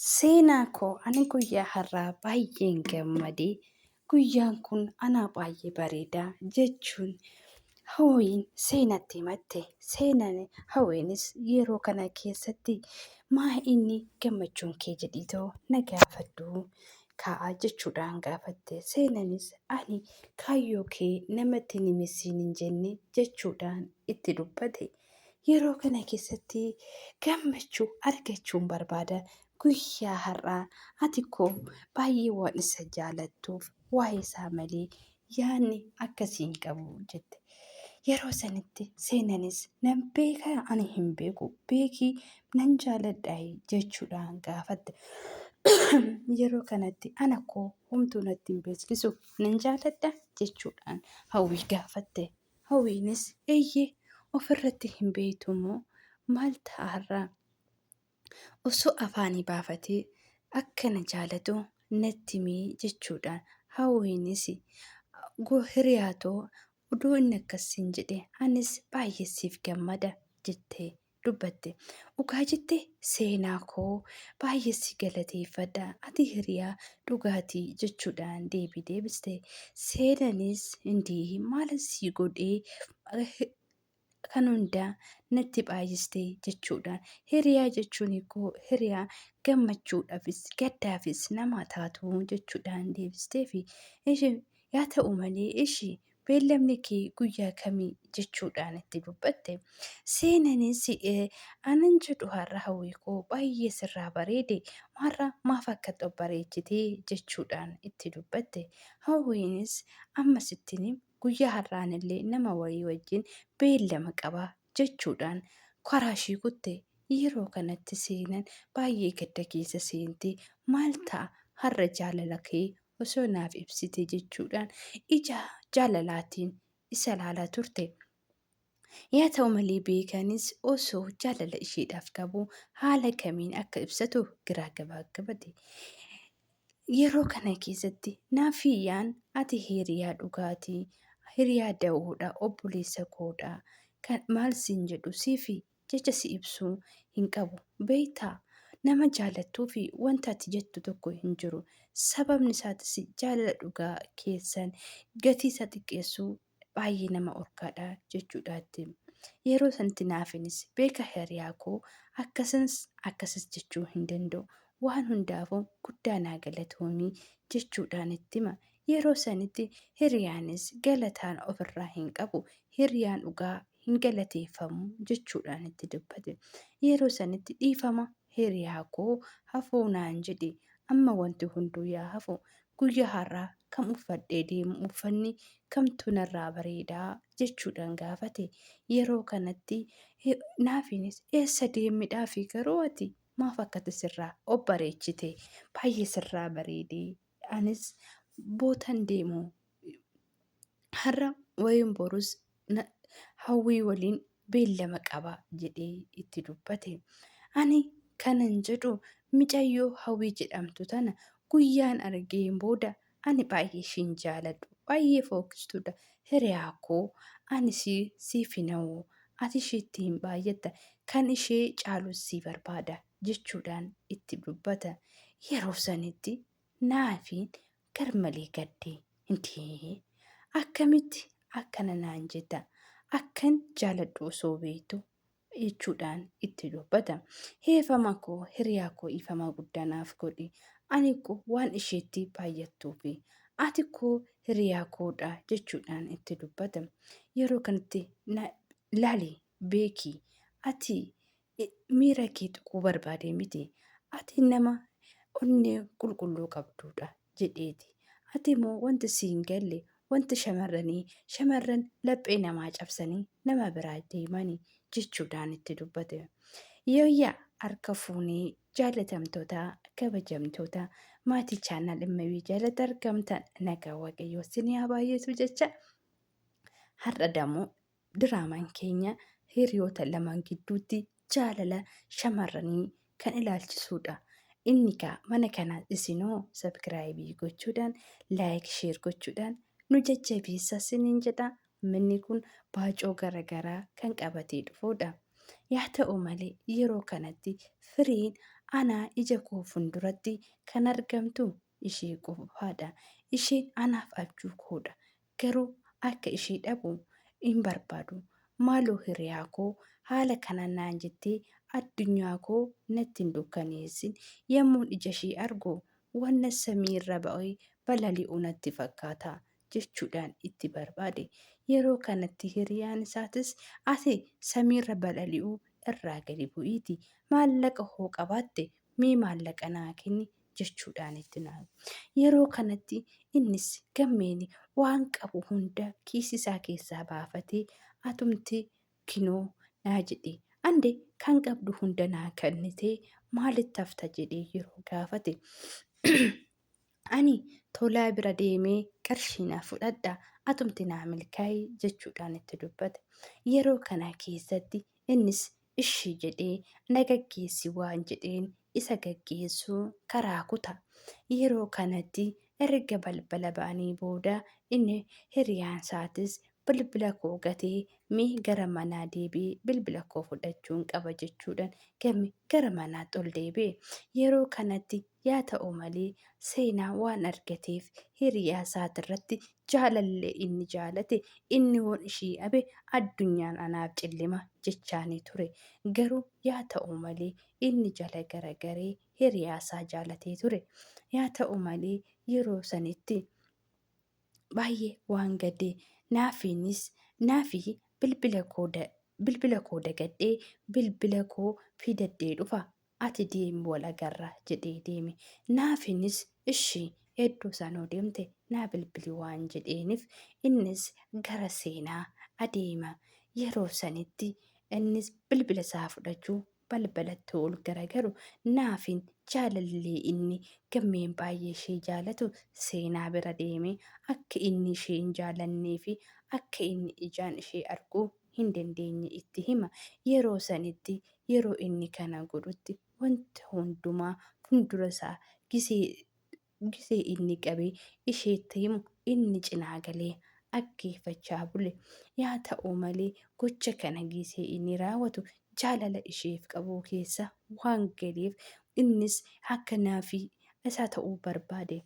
Seenaa koo ani guyyaa har'aa baay'een gammadee guyyaan kun anaa baay'ee bareeda jechuun hawwiin seenatti himatte. Seenaan hawwiinis yeroo kana keessatti maa inni gammachuun kee jedhiitoo na gaafadhu kaa'a jechuudhaan gaafatte. Seenanis ani kaayyoo kee namatti hin himisiin hin jenne jechuudhaan itti dubbate. Yeroo kana keessatti gammachuu argachuun barbaada. Guyyaa har'aa ati koo baay'ee waan isa jaalattuuf waa'ee isaa malee yaadni akkasii hin qabu jette. Yeroo sanitti seenanis nan beeka ani hin beeku beekii nan jaaladha jechuudhaan gaafatte. Yeroo kanatti ana koo homtuu natti hin beeksisu nan jaaladha jechuudhaan hawwii gaafatte. Hawwiinis eeyyee ofirratti hin beektu moo maal ta'a har'a? Osoo afaanii baafatee akka na jaalatu natti himi jechuudhaan Hawwiinis hiriyaa too odoo inni akkas siin jedhee anis baay'ee siif gammada jettee dubbatte. Dhugaa jette seenaa koo baay'ee si galateeffadha ati hiriyaa dhugaati jechuudhaan deebii deebiste. Seenanis indii maalan sii godhee kan hundaa natti baay'iste jechuudhaan hiriyaa jechuun koo hiriyaa gammachuudhaafis gaddaafis nama taatu jechuudhaan deebisteefi. Isheen yaa ta'u malee ishii Beellamni kee guyyaa kami? jechuudhaan itti dubbatte. Seenanis anan jedhu har'a hawwii koo baay'ee sirraa bareede maarra maaf akka xobbareechite jechuudhaan itti dubbatte. Hawwiinis amma sittin him guyyaa har'aanillee nama wayii wajjin beellama qaba jechuudhaan karaa ishii kutte. Yeroo kanatti seenan baay'ee gadda keessa seente. Maal ta'a har'a jaalala kee osoo naaf ibsite jechuudhaan ija jaalalaatiin isa ilaalaa turte. Yaa ta'u malee beekanis osoo jaalala isheedhaaf qabu haala kamiin akka ibsatu giraa gabaaggabate. Yeroo kana keessatti naafiyyaan ati hiriyaa dhugaati, hiriyaa da'oodha, obboleessa koodha, kan maal siin jedhu siifi jecha si ibsu hin qabu. Beektaa? Nama jaallattuu fi wanta ati jettu tokko hin jiru. Sababni isaatis jaalala dhugaa keessan gatii isaa xiqqeessuu baay'ee nama orkaadha jechuudhaatti. Yeroo sanatti naafinis beeka hiriyaa koo akkasins akkasis jechuu hin danda'u. Waan hundaafuu guddaa naa galatoomii jechuudhaan itti hima. Yeroo sanitti hiriyaanis galataan ofirraa hin qabu, hiriyaan dhugaa hin galateeffamu jechuudhaan itti dubbate. Yeroo sanitti dhiifama hiriyaa koo hafuu naan jedhi, amma wanti hunduu yaa hafu, guyyaa har'aa kam uffadhee deemu uffanni kamtu narraa bareedaa jechuudhaan gaafate. Yeroo kanatti naafiinis eessa deemidhaafi garuu ati maaf akkati sirraa of bareechite baay'ee sirraa bareedee anis bootan deemu har'a wayin borus na- hawwii waliin beellama qaba jedhee itti dubbate. Ani kanan jedhu micayyoo hawwii jedhamtu tana guyyaan argeen booda ani baay'ee ishiin jaaladhu baay'ee fookkistuudha hiriyaa koo ani ishii siif hin hawwu ati ishiitti hin baay'atta kan ishee caalus sii barbaada jechuudhaan itti dubbata. Yeroo sanitti Naafiin garmalee gadde. Intee! Akkamitti akkana naan jetta? Akkan jaaladhu osoo beektu jechuudhaan itti dubbata. Heefama koo hiriyaa koo ifama guddaa naaf godhi. Ani koo waan isheetti baay'attuufi. Ati koo hiriyaa koodha jechuudhaan itti dubbata. Yeroo kanatti laali beeki ati miira kee tuquu barbaadee miti. Ati nama onnee qulqulluu qabduudha jedheeti. Ati immoo wanti si hin galle wanti shamarranii shamarran laphee namaa cabsanii nama biraa deemani jechuudhaan itti dubbate. Yooyyaa harka fuunee jaalatamtoota kabajamtoota maatii chaanaal immayuu jalatti argamtan nagaa waaqayyoo sinii haa baay'atu jecha har'a damoo Diraamaan keenya hiriyoota lamaan gidduutti jaalala shamarranii kan ilaalchisuudha. Inni kaa mana kanaa isinoo sabkiraayibii gochuudhaan laayik sheer gochuudhaan nu jajjabeessa siniin jedha. Manni kun baacoo garagaraa kan qabatee dhufuudha. Yaa ta'u malee yeroo kanatti firiin anaa ija koo funduratti kan argamtu ishee qofaadha. Isheen anaaf abjuu koodha. Garuu akka ishee dhabu hin barbaadu. Maaloo hiriyaa koo haala kanaan naan jettee addunyaa koo natti hin dukkaneessin. Yommuun ija ishee argu wanna samii irra ba'ee balali'u natti fakkaata jechuudhaan itti barbaade. Yeroo kanatti hiriyaan isaatis ati samiirra balali'uu irraa gadi bu'iiti maallaqa hoo qabaatte mee maallaqa naa kenni jechuudhaan itti naaye. Yeroo kanatti innis gammeen waan qabu hunda kiisii isaa keessaa baafatee atumti kinoo naa jedhee ande kan qabdu hunda naa kennitee maalitti hafta jedhee yeroo gaafate ani tolaa bira deemee qarshii naa fudhadha atumti naa milkaa'e jechuudhaan itti dubbate. Yeroo kana keessatti innis Ishi jedhee na gaggeessi waan jedheen isa gaggeessu karaa kuta. Yeroo kanatti erga balbala ba'anii booda inni hiriyaansaatiis bilbila koo gatee mee gara manaa deebi'i bilbila koo fudhachuun qaba jechuudhan game gara manaatti ol deebi'e. Yeroo kanatti Yaa ta'u malee, seenaa waan argateef hiriyaa isaatirratti jaalallee inni jaalate inni yoon ishii dhabe addunyaan anaaf cillima jechaanii ture. Garuu yaa ta'u malee inni jala garagaree hiriyaa isaa jaalatee ture. Yaa ta'u malee yeroo sanitti baay'ee waan gadee naafiinis naafii bilbila koo bilbila koo dagadhee bilbila koo fidaddee dhufa Ati deemi wal agarra jedhee deeme. Naafiinis ishi eddoo sanoo deemte naa bilbili waan jedheenif innis gara seenaa adeema. Yeroo sanitti innis bilbila isaa fudhachuu balbala ttuu ol garagaru Naafiin jaalallee inni Gammeen baay'ee ishee jaalatu seenaa bira deeme akka inni ishee hin jaalannee fi akka inni ijaan ishee arguu hin dandeenye itti hima. Yeroo sanitti, yeroo inni kana godhutti wanta hundumaa fuuldura isaa gisee, gisee inni qabee isheetti himu inni cinaa galee dhaggeeffachaa bule. Yaa ta'u malee gocha kana gisee inni raawwatu jaalala isheef qabu keessa waan galeef innis akka naafii isaa ta'uu barbaade.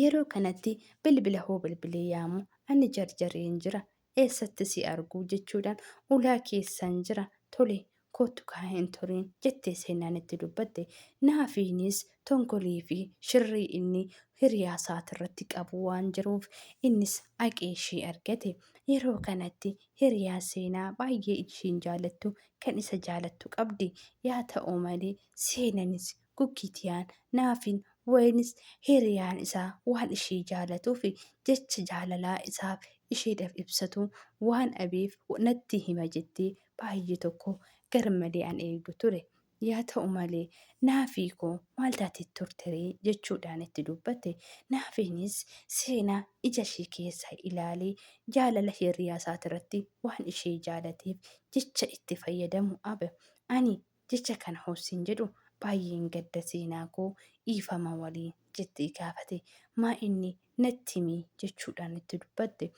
Yeroo kanatti bilbila hoo bilbilee yaamu ani jarjareen jira eessatti si argu? jechuudhaan ulaa keessan jira, tole, koottu kaa hin turin, jettee seenaan itti dubbatte. Naafiinis tonkolii fi shirrii inni hiriyaa isaatirratti qabu waan jiruuf innis aqee ishii argate. Yeroo kanatti hiriyaa seenaa baay'ee ishiin jaalattu kan isa jaalattu qabdi. Yaa ta'u malee seenanis Guggitiyaan, Naafin, Waynis hiriyaan isaa waan ishee jaalatuufi jecha jaalalaa isaaf isheedhaf ibsatu waan dhabeef natti hima jettee baay'ee tokko garmalee an eegu ture. Yaa ta'u malee Naafii koo maal taatee turteree? jechuudhaan itti dubbatte. Naafiinis seenaa ija ishee keessaa ilaalee jaalala hiriyaa isaatirratti waan ishee jaalateef jecha itti fayyadamu abe. Ani Jecha kana hossin jedhu baay'een gadda seenaa koo dhiifama waliin jettee gaafate. Maa inni natti himi jechuudhaan itti dubbatte.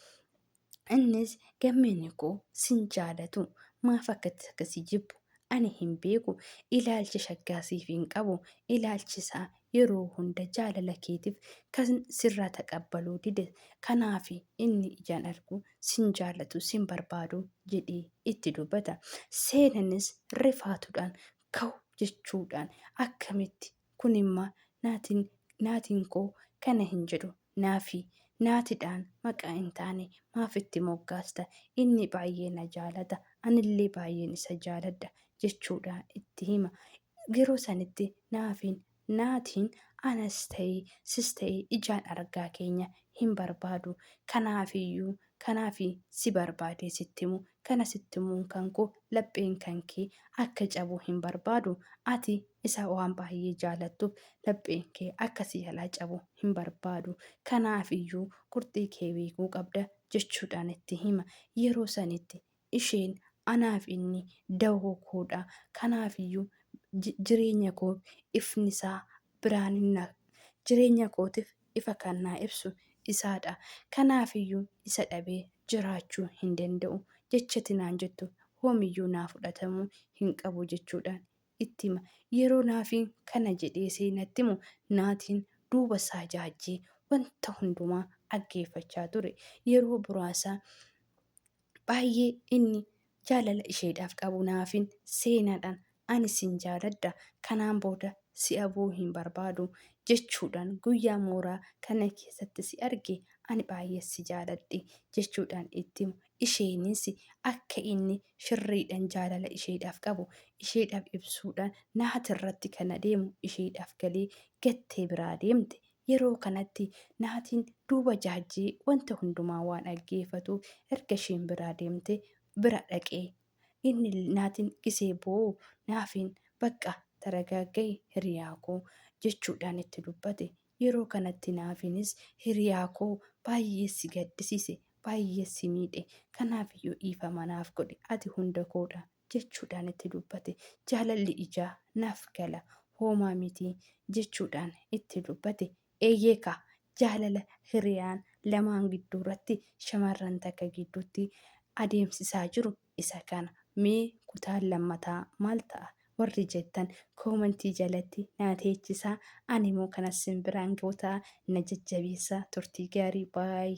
Innis gammeen koo sin jaalatu maaf akkatti akka si jibbu ani hin beeku ilaalcha shaggaa siif hin qabu ilaalchi isaa yeroo hunda jaalala keetiif kan sirraa taqabbaluu dide kanaafi inni ijaan arguu sin jaallatu sin barbaadu jedhee itti dubbata. Seenanis rifaatuudhaan kaw jechuudhaan akkamitti kunimmaa naatiin naatiin koo kana hin jedhu Naafi, Naatidhaan maqaa hin taane maaf itti moggaasta? Inni baay'ee na jaalata, anillee baay'een isa jaaladha jechuudhaan itti hima. Yeroo sanitti Naafiin, Naatiin anas ta'ee sis ta'ee ijaan argaa keenya hin barbaadu. Kanaafiyyuu Kanaafi si barbaadee sitti himu. Kana sitti himuun kan koo lapheen kan kee akka cabu hin barbaadu. Ati isa waan baay'ee jaalattuuf lapheen kee akka si jalaa cabu hin barbaadu. Kanaaf iyyuu qurxii kee beekuu qabda jechuudhaan itti hima. Yeroo sanitti Isheen, Anaaf inni dawoo koo dha, kanaaf iyyuu jireenya koo ifni isaa biraan hin hafu, jireenya kootiif ifa kan naa ibsu isaa dha, kanaaf iyyuu isa dhabee jiraachuu hin danda'u jechati naan jettu hoom iyyuu naa fudhatamuu hin qabu jechuudhaan itti hima. Yeroo Naafiin kana jedhee seenatti himu Naatiin duuba isaa jaajjee wanta hundumaa dhaggeeffachaa ture. Yeroo buraasa Baay'ee inni jaalala isheedhaaf qabu naafin seenaadhaan ani sin jaaladha kanaan booda si abuu hin barbaadu jechuudhaan guyyaa mooraa kana keessatti si arge ani baay'ee si jaaladhe jechuudhaan itti himu isheenis akka inni shirriidhaan jaalala isheedhaaf qabu isheedhaaf ibsuudhaan naatirratti kan adeemu isheedhaaf galee gattee biraa deemte Yeroo kanatti Naatiin duuba Jaajjee wanta hundumaa waan dhaggeefatuuf erga isheen biraa deemtee bira dhaqe. Inni Naatiin gisee boo'u Naafiin bakka taragaagga'i hiriyaa koo jechuudhaan itti dubbate. Yeroo kanatti Naafiinis hiriyaa koo baay'ee si gaddisiise, baay'ee si miidhe. Kanaafiyyuu dhiifama naaf godhi ati hunda koodha jechuudhaan itti dubbate. Jaalalli ijaa naaf gala, hoomaa miti jechuudhaan itti dubbate. Eeyyee kaa, jaalala hiriyaan lamaan gidduurratti shamarran takka gidduutti adeemsisaa jiru isa kana. Mee kutaan lammataa maal ta'a? Warri jettan koomentii jalatti naa teechisaa, animoo kanas sin biraan ga'u ta'a. Na jajjabeessaa, turtii gaarii. Bye.